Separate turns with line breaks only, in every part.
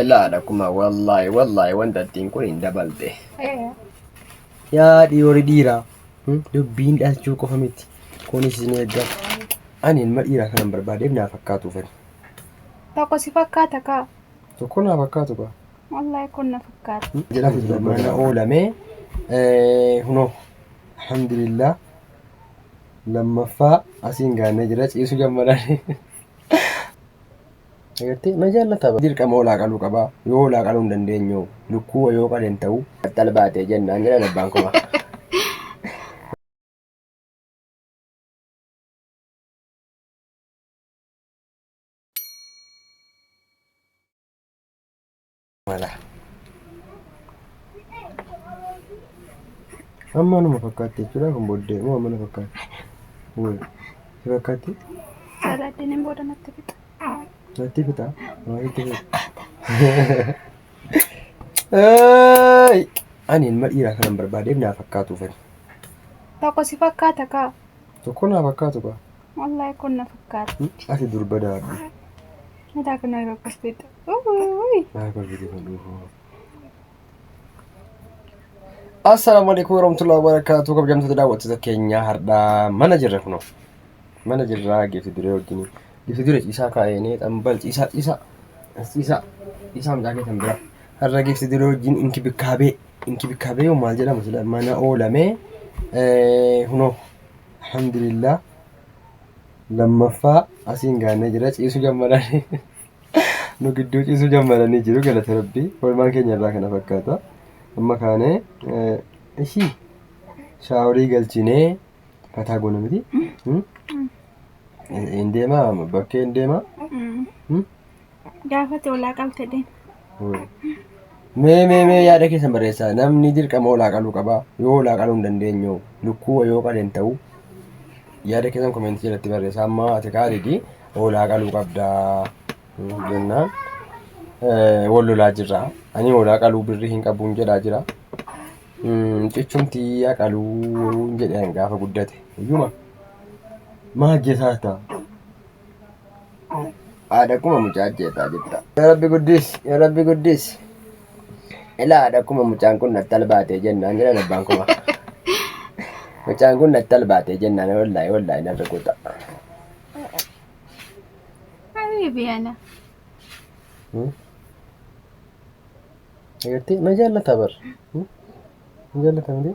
Ilaadha kuma wallaahi wallaahi wanta ittiin kun hin dabalte.
Yaa dhiirri dhiiraa hmm, dubbiin dhalchuu qofa miti. Kunis isin eegga. Ani ilma dhiiraa kanan barbaadeef naa fakkaatu fedha. Tokko
si fakkaata kaa. Tokko naa fakkaatu
kaa. Wallaahi kun na
fakkaata. Hmm, jedhamu mana
oolamee eh, hunoo alhamdulillah lammaffaa asiin gaannee jira ciisu gammadaan. Agartee na jaallata dirqama hoolaa qaluu qaba yoo hoolaa qaluu hin dandeenyu lukkuu yoo qaleen ta'u battal baatee jennaan
jedhan abbaan koma.
mala. Amma numa fakkaatti jechuudha kan booddee moo amma na fakkaatti? Woy si fakkaatti? Salaatiin
hin booda natti fixa. Natti fixa?
Maa sitti fixa? Eeey! Ani ilma dhiiraa kanan barbaadeef naa fakkaatuufani. Tokko
si fakkaata kaa. Tokko naa fakkaatu
kaa. Wallahi kun na
fakkaata. Ati durba daadhu.
Mataa
kun yeroo akkas ta'etti. Uuuy. Maal
kolfiti kan dhufu? Assalaamu alaikum warahmatullahi wabarakatuh kabajamtoota daawwattoota keenyaa hardhaa mana jirra kunoo mana jirraa geefi duree wajjin geefi duree ciisaa kaa'eenee xambal ciisaa ciisaa as ciisaa ciisaa mucaa keessan bira har'a geefi duree wajjin inkibikaabee inkibikaabee yoo maal jedhama sila mana oolamee eh, kunoo Alhamdulillah lammaffaa asiin gaannee jira ciisu gammadanii nu gidduu ciisu gammadanii jiru galata rabbii oolmaan keenya irraa kana fakkaata amma kaanee ishii shaaworii galchinee fataa goona miti hin deemaa bakkee hin deemaa
Gaafate olaa qalte deem. Mee mee
mee yaada keessan barreessaa namni dirqama olaa qaluu qaba yoo olaa qaluu hin dandeenye hoo? lukkuu yoo qaleen ta'u yaada keessan komeentii jalatti barreessaa amma ati kaalidi olaa qaluu qabdaa jennaan eh, wal lolaa jirra ani olaa qaluu birrii hin qabuun jedhaa jira Mm, cichumtii yaa qaluu jedhan gaafa guddate iyyuma maa hojjetaa ta'a
Haadha kuma mucaa ajjeesaa jirta. Yaa Rabbi guddis, yaa Rabbi guddis. Ilaa haadha kuma mucaan kun natti albaatee jennaan jedhan abbaan kuma. Mucaan kun natti albaatee jennaan wallaahi wallaahi nan rukuta.
Habiibi ana.
Agartee na jaallata bar. Na jaallata malee.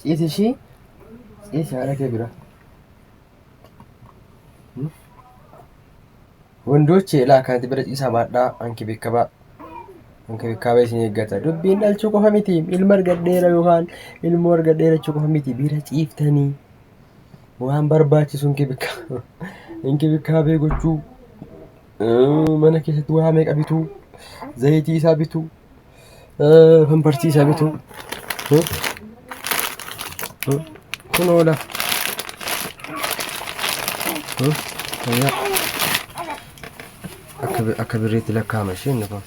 Ciisi ishii ciisi haadha kee bira. Wondochi elaa kanti bira ciisaa baadhaa anki bekkabaa. Anki bekkabaa isin eeggata. Dubbiin dhalchuu qofa miti. Ilma argadheera yookaan ilmoo argadheera jechuu qofa miti. Bira ciiftanii waan barbaachisu anki bekkabaa. Anki bekkabaa gochuu. mana keessatti waa meeqa bitu zayitii isaa bitu pampartii isaa bitu kun oola akka birriitti lakkaa'ama isheen inni kun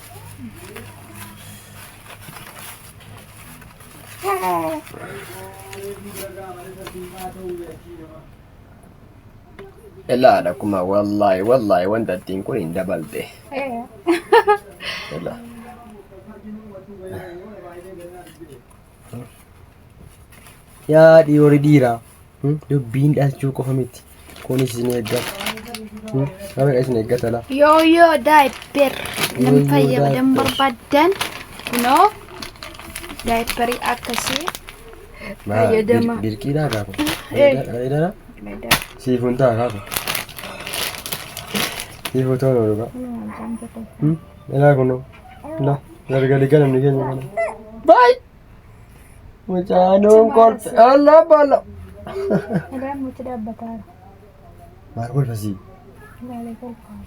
Ilaala kuma wallaahi wallaahi wanta ittiin kun hin dabalte. Ilaala.
Yaa dhiyoori dhiiraa hmm? dubbiin dhalchuu qofa miti kunis isin eeggata. Hmm? Nama isin eeggata laa. Yoo yoo daayipper
Yoo nam yoo fayyadamu diaper. barbaadan kunoo daayipperii akkasii Maa, bir- Fayyadama. Birqiidhaa kaa
kun. Eh. Areedara? Meedaa. Siif
hin ta'a kaa kun.
Siif otoo hin oolu kaa. Hmm? Ilaa kunoo. Ilaa. Gargari ganamni keenya kana. Baay! Mucaanuun kolfe. Allaa baala. Meedaan
muti dhaabbataa.
Maal kolfa sii? Ilaalee
kolfaa.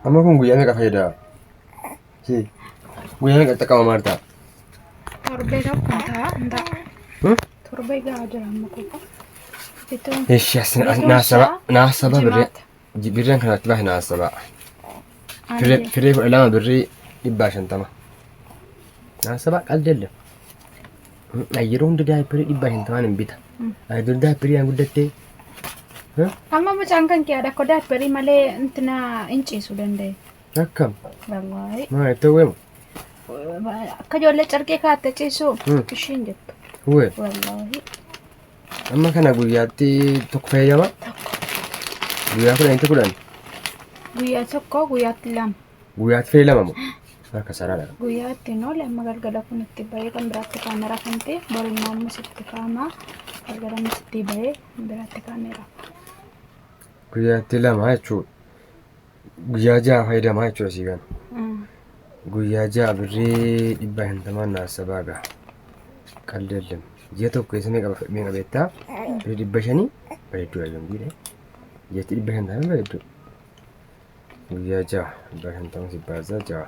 Amma kun guyyaa meeqa fayyada? Guyyaa meeqa xaqqama maartaa? Torbee
tokko hin ta'a hin ta'a. Hmm? Torbee gahaa jira amma qofa. Bituun Eshi asin Betul,
nasaba Syah. nasaba birri Jimaata. birri kan itti bahe nasaba. Firri ani firri kudha lama birri dhibba shantama. Nasaba qaldelle. Yeroo hundi daayippirii dhibba shantamaan hin bita. Hmm. Ani dur daayippirii aan guddattee.
amma mucaan kan kiyyaadha akka daabbarii malee intina hin ciisu danda'e. Akkam.
Wallaahi. Maa
itti hawweema. Akka ijoollee carqee kaatte ciisu Hmm. ishiin jettu. Hawwee. Wallaahi. Amma
kana guyyaatti tokko fayyadama. Guyyaa kudhan itti kudhan. Guyyaa
tokko guyyaatti lama. Guyyaatti fayyadama moo?
Akka saraadha. Guyyaatti noo lama
galgala kun itti bahee kan biraatti kaameraa kan ta'e borimmoo ammas itti kaamaa galgala ammas itti bahee biraatti kaameraa.
Guyyaatti lama jechuudha. guyyaa ja'a fayyadamaa jechuudha sii kana. Guyyaa ja'a birrii dhibba shantamaan naaf sabaa ga'a. Qalli ellam. Ji'a tokko keessa meeqa meeqa beektaa? Birrii dhibba shanii bareedduu ayyoon biire. Ji'atti dhibba shantamaan bareedduu. Guyyaa ja'a dhibba shantamaan sibbaasaa ja'a.